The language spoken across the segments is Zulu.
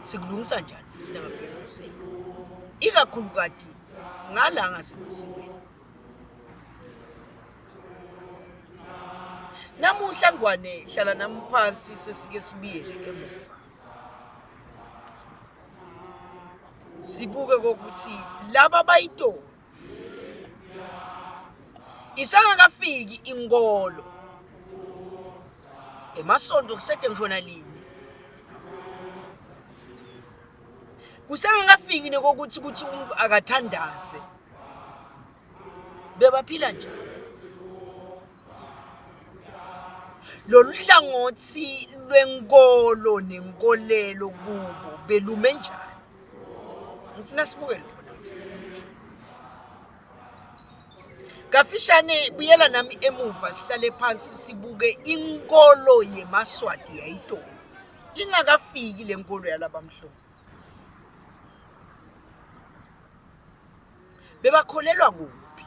sikulungisa njani futhi nababekuse ikakhulukati ngala ngasemasiweni namuhla ngwane hlala nami phansi sesike sibiyele emuva sibuke kokuthi laba bayitoni isangakafiki inkolo emasonto kusede ngisho nalinye kusengakafiki nekokuthi ukuthi umuntu akathandaze bebaphila njani lolu hlangothi lwenkolo nenkolelo kubo belume njani ngifuna sibuke lokho kafishane buyela nami emuva sihlale phansi sibuke inkolo yemaswati yayitolo ingakafiki le nkolo yalabamhlophe bebakholelwa kuphi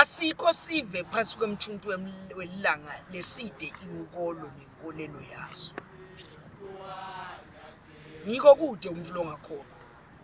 Asikho sive phansi kwemthuntu welanga leside inkolo nenkolelo yaso. Ngiko kude umntu longakhona.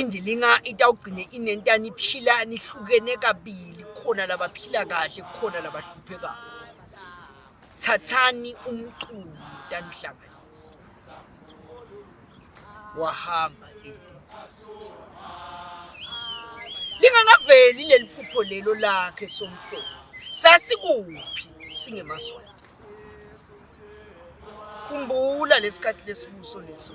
Indilinga itawugcine inentani iphila nihlukene kabili, khona labaphila kahle khona labahluphekayo. Thathani umculo tanihlanganisa. Wahamba lingakaveli leli phupho lelo lakhe somhlobo sasikuphi singemasonto khumbula lesikhathi lesibuso leso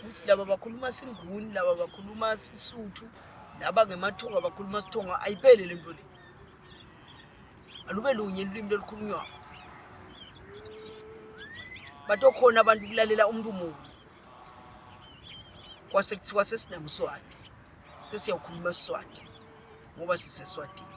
ukuthi laba bakhuluma singuni laba bakhuluma sisuthu laba ngemathonga bakhuluma sithonga ayiphele le nto le alube lunye lulimi lolukhulunywayo batokhona abantu kulalela umuntu munye kwase kuthiwa sesinamswati sesiyawukhuluma siswati ngoba siseswatini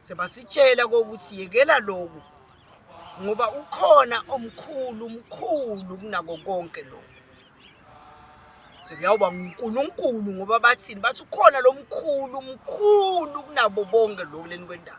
sebasitshela kokuthi yekela loku ngoba ukhona omkhulu umkhulu kunako konke loku sekuyawuba nguNkulunkulu ngoba bathini bathi ukhona lo mkhulu mkhulu kunabo bonke lokhu leni kwendawo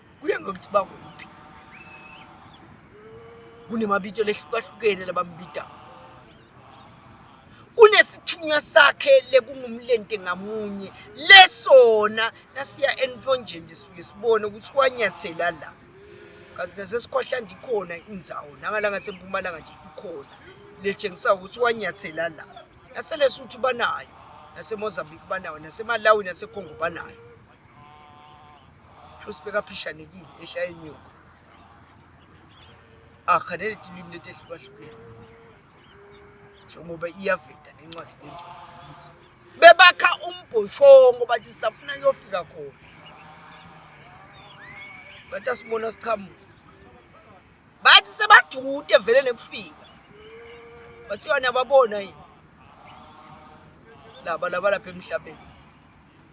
Kuye ngokuthi bakuphi. Kunemabito lehlukahlukene labambita. Unesithunywa sakhe lekungumlente ngamunye lesona nasiya enfonjeni nje sifike sibone ukuthi wanyathela la. Kazi nasesikhohla ndikhona indzawo nangala ngasempumalanga nje ikhona letshengisa ukuthi wanyathela la. NaseLesotho banayo, naseMozambique banayo, naseMalawi naseCongo banayo. sho sibekaphishanekile ehla inyuka akhanele tilwimi letehlukahlukene njengoba iyaveda nencwadi lengcwelikuthi bebakha umbhoshongo bathi sisafuna kuyofika khona bathi asibona siqhamuka bathi sebajude vele nekufika bathi yona babona yini laba laba lapha emhlabeni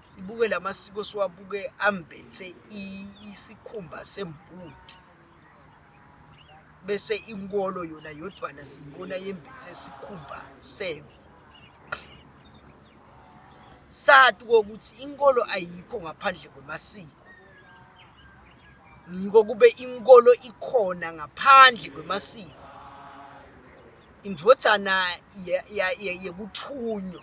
Sibuke la masiko siwabuke ambethe isikhumba sembudi bese inkolo yona yodwana siyibona yembethe isikhumba semvu sati kokuthi inkolo ayikho ngaphandle kwemasiko ngiko kube inkolo ikhona ngaphandle kwemasiko indvodzana yekuthunywa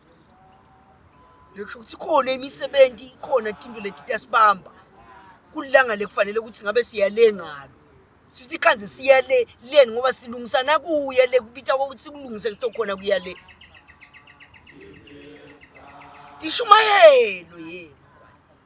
Ngisho ukuthi khona imisebenzi ikhona tinto leti tasibamba kulilanga lekufanele ukuthi ngabe siyale ngalo sithi khanze siya le leni ngoba silungisa nakuya le kubita kokuthi sikulungise kusokhona kuya le tishumayelo yenu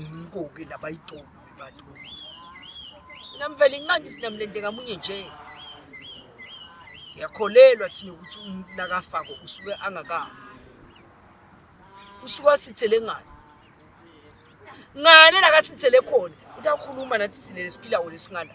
ngikoke laba itolo bebantu bokuthi namvela inqandi sinamlende kamunye nje siyakholelwa thina ukuthi umuntu nakafako usuke angakafa usuke asithele ngani ngale lakasithele khona uthi akhuluma nathi silele siphila wona esingala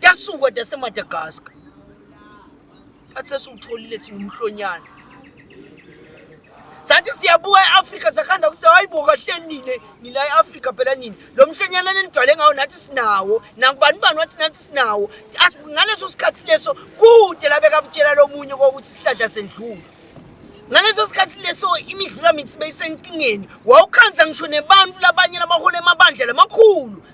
Yasuka daseMadagascar. Bathi sesiwutholile thina umhlonyana. Sathi siyabuka e-Afrika sakhanza kuse hayibo kahle nini nila e-Afrika phela nini. Lo mhlonyana lenidwale ngawo nathi sinawo. Nakubani bani wathi nathi sinawo. Ngaleso sikhathi leso kude labeka butshela lomunye kokuthi sihlahla sendlula. ngaleso sikhathi leso imidlula mithi beyisenkingeni wawukhanza ngisho nebantu labanye labahola emabandla lamakhulu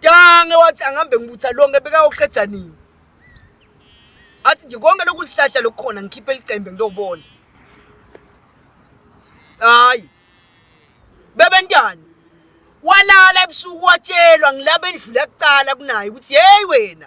Tange wathi angihambe ngibutha lonke bekayoqeda nini? Athi nje konke lokhu sihlahla lokukhona ngikhiphe licembe ngiyobona. Hayi. Bebentwana walala ebusuku watshelwa ngilaba endlula kuqala kunaye ukuthi hey wena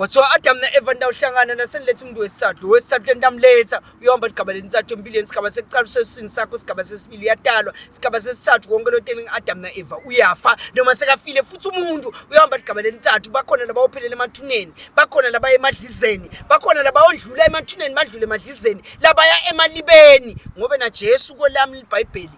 Wathiwa Adam na Eva ndawuhlangana naseniletha umuntu wesithathu wesithathu entamletha uyohamba ligaba lentsathu empilweni sigaba sekuqala usesiswini sakho sigaba sesibili uyatalwa sigaba sesithathu konke lo telling Adam na Eva uyafa noma sekafile futhi umuntu uyohamba ligaba lentsathu bakhona laba ophelele emathuneni bakhona laba emadlizeni bakhona laba ondlula emathuneni badlule emadlizeni labaya emalibeni ngoba na Jesu kolami libhayibheli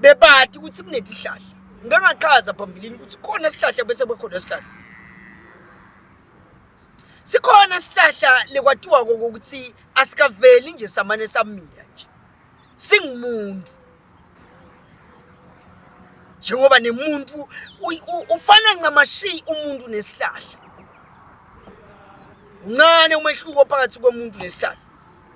bebati ukuthi kunetihlahla ngike ngachaza phambilini ukuthi khona isihlahla bese bekhona isihlahla sikhona isihlahla lekwatiwa kokuthi asikaveli nje samane samila nje singumuntu njengoba nemuntu ufana ncamashi umuntu nesihlahla uncane umehluko phakathi komuntu nesihlahla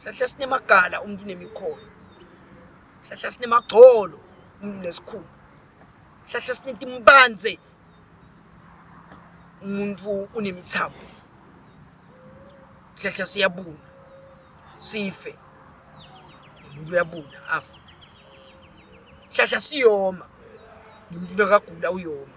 hlahla sinemagala umuntu unemikhono hlahla sinemagcolo umuntu nesikhulu hlahla sinetimbanze umuntu unemithambo hlahla siyabuna sife umuntu uyabuna afa hlahla siyoma nomuntu nakagula uyoma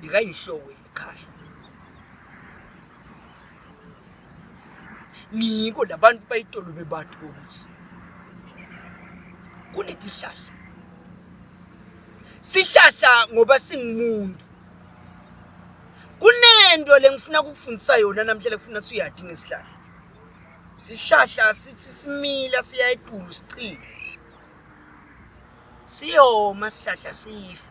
ngikayinhloko yekhaya ngiko labantu bayitolo bebathu kokuthi kunetihlahla sihlahla ngoba singumuntu kunento lengifuna kukufundisa yona namhlanje kufuna suyadi ngesihlahla sihlahla sithi simila siya etulu sicile siyoma sihlahla sife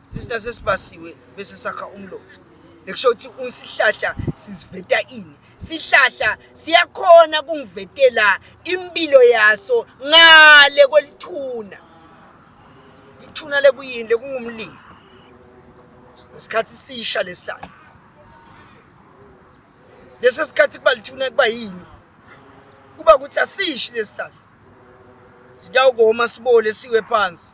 Sister sesibasiwe bese sakha umlozi. Lekusho ukuthi usihlahla siziveta ini? Sihlahla siyakhona kungivetela impilo yaso ngale kwelithuna. Ithuna lekuyini lekungumlilo. Ngesikhathi sisha lesihlahla. Lesi sikhathi kuba lithuna kuba yini? Kuba ukuthi asishi lesihlahla. Sitawukoma sibole siwe phansi.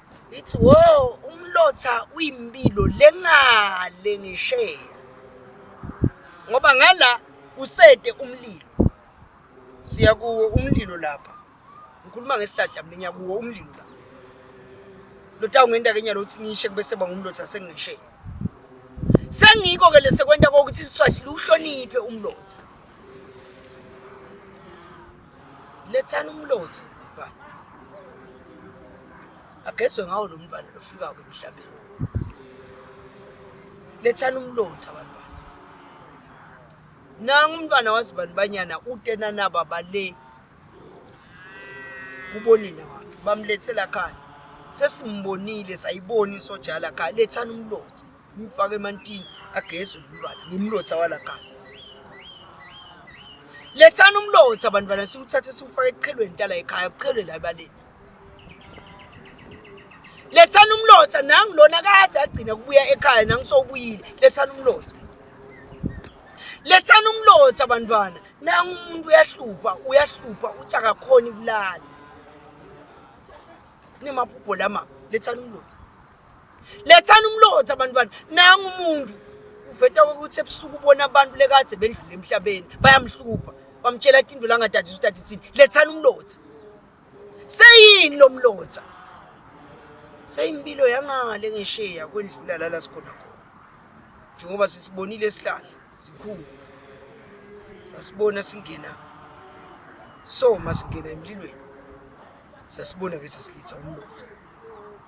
Ithi wo umlotha uyimpilo lengale ngisheya ngoba ngala usede umlilo siya kuwo umlilo lapha ngikhuluma ngesihlahla mina ngiya kuwo umlilo lapha lotawunga ngenta kenya lokuthi ngishe kube seba ngumlotha sengisheya sengiko-ke lesekwenta kokuthi liswathi liwuhloniphe umlotha lethani umlotha mfana agezwe ngawo lo mfana lofikayo emhlabeni lethani umlotha bantwana nangu umntwana wazibani banyana utenanaba bale kubonina wakhe bamlethela khaya sesimbonile sayibona isojala khaya lethani umlotha ngimfake emantini ageze umntwana ngimlotha walakhaya lethani umlotha bantwana siwuthathe siwufake eqhelweni tala ekhaya kuqhelwe la ebaleni lethani umlotha nangilona kade agcina kubuya ekhaya nangisowubuyile lethani umlotha lethani umlotha bantwana nangu umuntu uyahlupha uyahlupha uthi akakhoni kulala nemaphupho lama lethani umlotha lethani umlotha abantwana nangu umuntu uveta ukuthi ebusuku ubona abantu lekadze bendlule emhlabeni bayamhlupha bamtshela athi indlu langadadisa ukuthi adithini lethani umlotha seyini lo mlotha seyimpilo yangale ngesheya kwendlula lala sikhona khona njengoba sisibonile esihlahla sikhulu sasibona singena so masingena emlilweni sasibona ke sesilitha umlotha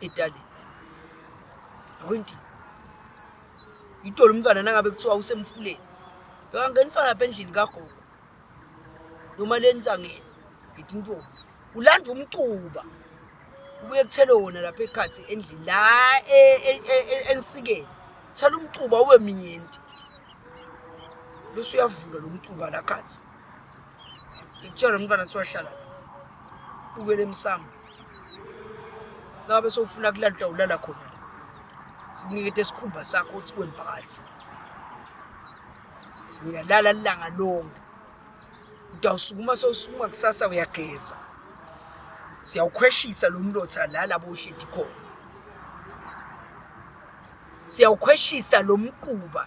Edale. Akwenti. Ngithola umntwana nangabe kuthiwa usemfuleni. Bekangeniswa lapha endlini kagogo. Noma lensangeni. Ngithi intombi. Ulandwa umcuba. Ubuye kuthele wona lapha ekhathi endlini la e- e- e- e- ensikeni. Thela umcuba ube minyenti. Bese uyavula lo mcuba la khathi. Sikutshela umntwana siwahlala la. Ubele emsamo. Ngabe sofuna kulala ulala khona la. Sinikete isikhumba sakho sikwe phakathi. Uyalala langa lonke. Utawusukuma sewusukuma kusasa uyageza. Siyawukhweshisa lo mlotha la labo uhleti khona. Siyawukhweshisa lo mquba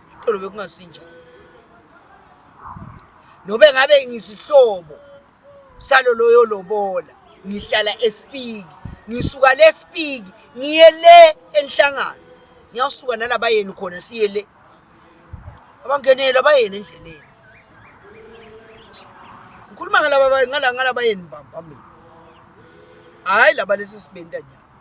Tolo bekungasinja. Nobe ngabe ngisihlobo salo loyo lobola ngihlala esipiki ngisuka lesipiki ngiye le enhlangano ngiyasuka nalabayeni khona siye le abangenele abayeni endleleni ngikhuluma ngalaba ngalabayeni bamba mina hayi laba lesi sibenta nyama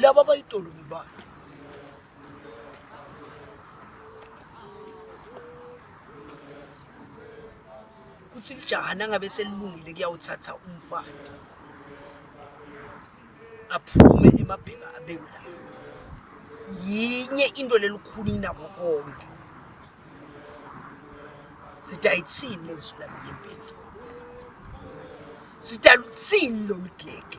laba bayitolo ngebani kuthi lijaha nangabe selilungile kuyawuthatha umfati aphume emabheka abekwe la yinye into lelikhulu inabo konke sithi ayithini lezwi lami yempilo sithi aluthini lolu gege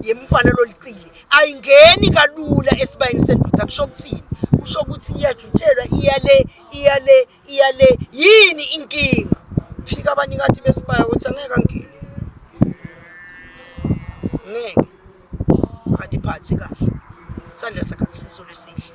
yemfana loliqili ayingeni kalula esibayeni sendoda kusho ukuthini kusho ukuthi iyajutshelwa iyale iyale iyale yini inkinga phika abanikathi besibaya ukuthi angeke angeni ngeke akadiphathi kahle sandla sakhe akusiso lesihle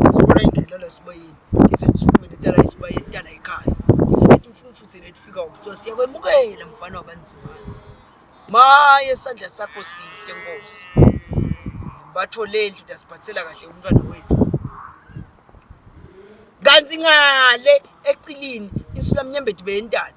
ngifuna ingenela esibayeni ngize ngisukume netala esibayeni tala ekhaya ngifike umfumfu thina etifika ukuthiwa siyakwemukela mfana wabanzimanzi maye isandla sakho sihle nkosi batho leli ndoda siphathela kahle umntwana wethu kanti ngale ecilini insulamnyembedi beyentana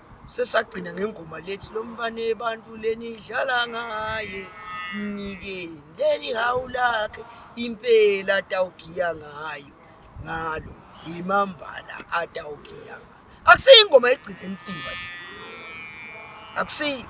sesagcina ngengoma lethi lo mfana ebantu lenidlala ngaye mnikeni leli hawu lakhe impela atawugiya ngayo ngalo yimambala atawugiya ngayo akusiyo ingoma egcina emtsimba le akusiyo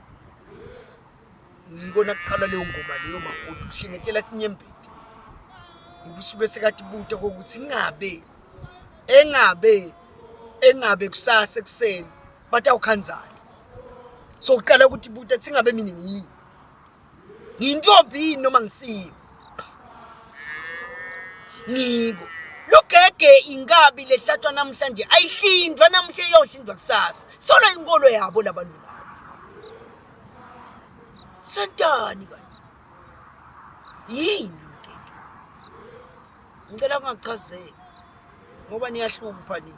ngikona kuqala leyo ngoma leyo makoti uhlengetela kunyembeti ngisuke sekathi buta kokuthi ngabe engabe engabe kusasa ekuseni batawukhandzana so uqala ukuthi buta tsingabe mina yini Ngiyintombi yini noma ngisiyo? Ngiko. Lugege inkabi lehlatshwa namhlanje ayihlinzwa namuhla iyohlinzwa kusasa. Solo inkolo yabo labantu labo. Sentani kanti? Yini lugege? Ngicela ungachazeki ngoba niyahlupha nini.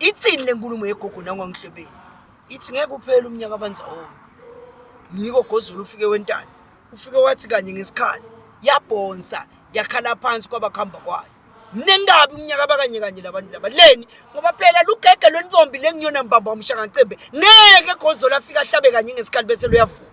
Ithini le nkulumo yegogo nangwangihlebeni? Ithi ngeke uphele umnyaka abanzawonye. Ngiko Gozulu ufike wentana. Ufike wathi kanye ngesikhali. Yabhonsa, yakhala phansi kwabakuhamba kwayo. Mnengabi umnyaka abakanye kanye labantu laba. Leni ngoba phela lugege lwentombi lengiyona mbamba umshangacembe. Ngeke Gozulu afike ahlabe kanye ngesikhali bese luyavuka.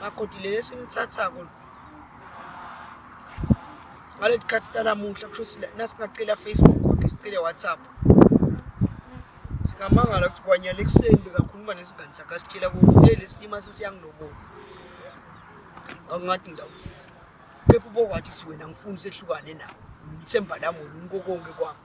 makoti le lesimthathako ngaleli khathi tanamuhla kusho ukuthi nasingaqela Facebook konke sicele WhatsApp singamangala ukuthi kwanyala ekuseni bekakhuluma nesingane sakhe asitshela ukuthi hey lesilima sesiyangilobola angathi ngidawuthi kepha ubokwathi siwena ngifuni sehlukane nawo ngithemba lami wena unkokonke kwami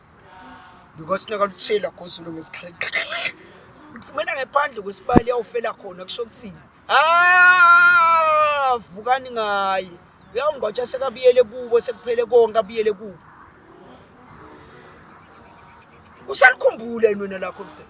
because naka luthela gozulu ngesikhathi uphumela ngephandle kwesibali yawufela khona kusho kuthini ah vukani ngaye uyawungqwatsha sekabiyele kubo sekuphele konke abiyele kubo usalikhumbula yini wena lakho mdebe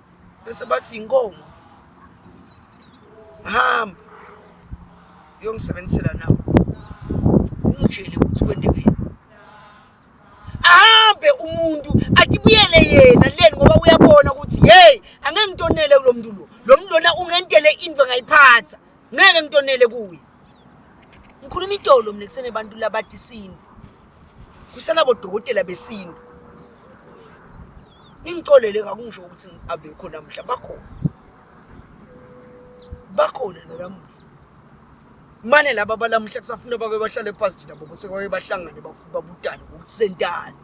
bese bathi inkomo hamba uyongisebenzisela nawe umtshele ukuthi kwendekeni ahambe umuntu atibuyele yena leni ngoba uyabona ukuthi hey angeke ngitonele kulo muntu lo lo muntu lona ungentele into engayiphatha ngeke ngitonele kuye ngikhuluma itolo mina kusene abantu labati isintu kusenabodokotela besintu ningixolele kakungisho ukuthi abekho namhla bakhona bakhona nalamuhla mane laba balamuhla kusafuna babe bahlale phasi nabo bese babe bahlangane babutane ukuthi sentani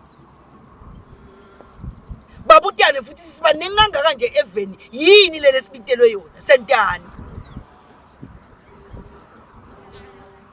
babutane futhi sibaningi kangaka nje eveni yini lele sibitelwe yona sentani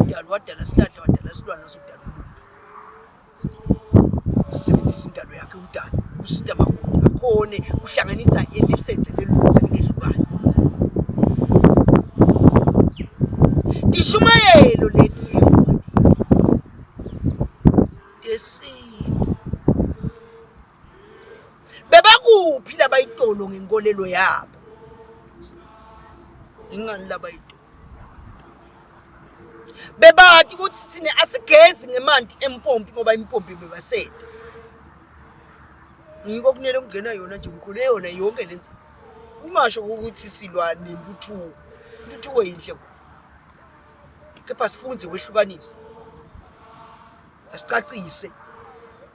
Udala wadala isihlahla wadala isilwane usudala umuntu. Asebenzisa indalo yakhe udala usita makude akhone uhlanganisa elisenze lelunze ngehlukane. Ishumayelo lethu yona. Yesintu. bebakuphi labayitolo ngenkolelo yabo ingani labayitolo bebati ukuthi thina asigezi ngemanti empompi ngoba impompi bebasete ngiko kunele kungena yona nje mqule yona yonke lenza ungasho ukuthi silwa nentuthuko intuthuko yinhle kepha sifunze kwehlukanisa asicacise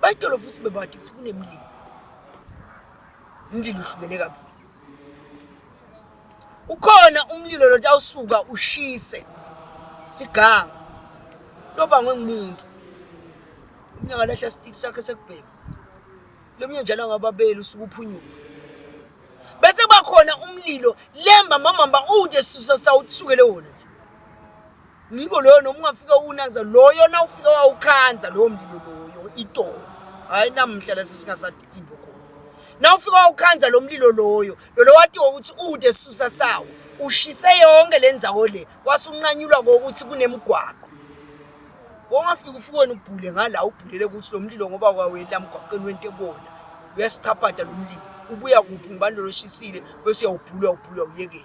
Bayityolo futhi bebade ukuthi kunemlilo. Umlilo uhlukene kabili. Ukhona umlilo lo tawusuka ushise siganga lobangwe ngumuntu. Umnye ngalahla stick sakhe sekubhema. Lomnye njalo ngababeli usuke uphunyuka. Bese kuba khona umlilo lemba mamamba ude susa sawukusukele wona. Ngiko loyo noma ungafika uwunanza loyo na ufika wawukhanza lowo mlilo loyo itolo. Hayi namhla lesi singasadidimbo khona. Na ufika wawukhanza lo mlilo loyo lo lowatiwa ukuthi ude sisusa sawo ushise yonke le nzawo le wasunqanyulwa ngokuthi kunemgwaqo. Wongafika ufike wena ubhule ngala ubhulele ukuthi lo mlilo ngoba wawela mgwaqeni wento ebona uyasichapata lo mlilo ubuya kuphi ngibani loloshisile bese uyawubhula ubhula uyekela.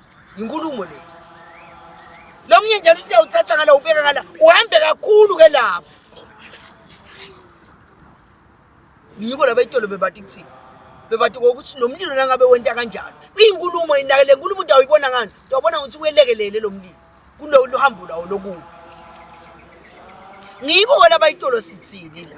Yinkulumo le. Lo mnye njalo uthi uyawuthatha ngala ubeka ngala. Uhambe kakhulu ke lapho. Yiko laba itolo bebathi kuthini? Bebathi ukuthi nomlilo nangabe wenta kanjalo. Inkulumo inakele inkulumo into awuyibona ngani? Uyabona ukuthi uyelekelele lo mlilo. Kulo luhambo lawo lokubi. Ngibo wena bayitolo sithini la.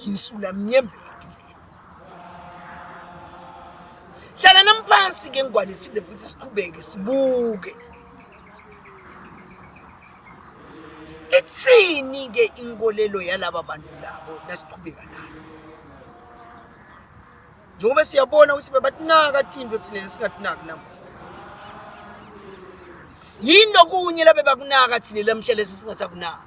Yinsula mnyembe edilini. Hlala nami phansi ke ngwane siphinde futhi siqhubeke sibuke. Ithini ke inkolelo yalaba bantu labo nasiqhubeka nayo. Njengoba siyabona ukuthi bebatinaka tinto thina lesingatinaki namuhla. Yini lokunye labe bakunaka thina lamhla lesi singasakunaki.